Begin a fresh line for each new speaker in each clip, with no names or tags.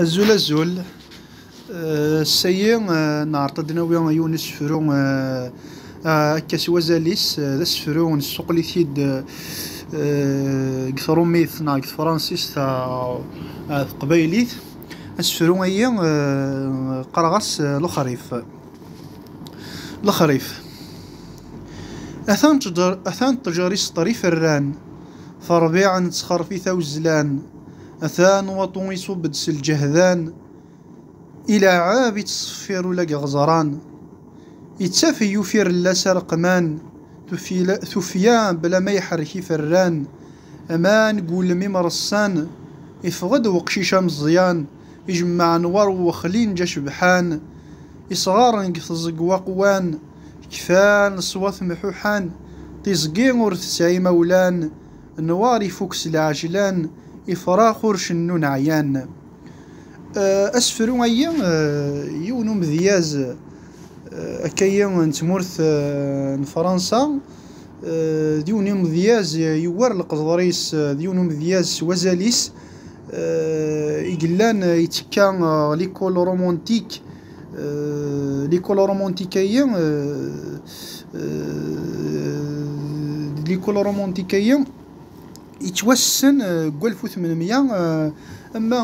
Azul azul, ass-agi neɛreḍ ad d-nawi yiwen asefru akka s wazal-is, d asefru nessuqel-it-id deg trumit neɣ deg tefransist ɣer teqbaylit, asefru-agi qqareɣ-as Lexrif. Lexrif, atan ṭṭjer iseṭṭrif rran. Terbiɛ n txerfit awezlan, atan waṭu iṣubb-d s lǧehdan, ileɛɛeb ittṣeffir ula deg iɣeẓran. Ittaf i ufirellas areqman, tufya bla ma iḥerrek iferran, aman deg wulem imreṣṣan, iffeɣ-d weqcic ameẓẓyan, ijemmaɛ n war uwexli n ja cebḥan, isɣaren deg teẓeg waqwan, kfan ṣwat mḥuḥan, tiẓgi ur tesɛi imawlan, nwaṛ ifuk s lɛejlan, ifrax ur cennun ɛyan. Asefru ayi yiwen umedyaz akkayi n tmurt n Fransa, D yiwen n umedyaz yewwar leqder-is, d yiwen n umedyaz s wazal-is i yellan yettekka ɣer likul rumuntik. Likul rumuntik-agi, likul rumuntik-agi yettwassen deg walef u tmen mya, ama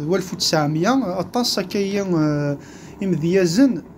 d walef u tesεemya. Aṭas akka-agi n yimedyazen.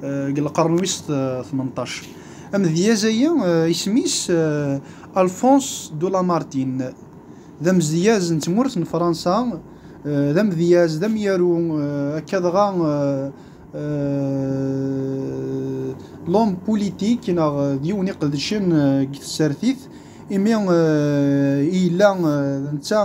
deg euh, lqern wis 18 euh, amedyaz aya euh, isem-is Alphonse de Lamartine d amedyaz n tmurt n Fransa d amedyaz d amyaru akka dɣa lom politik neɣ d yiwen iqedcen deg tsertit imi yella netta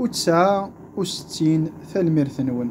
U tesɛa u settin Tanemmirt-nwen.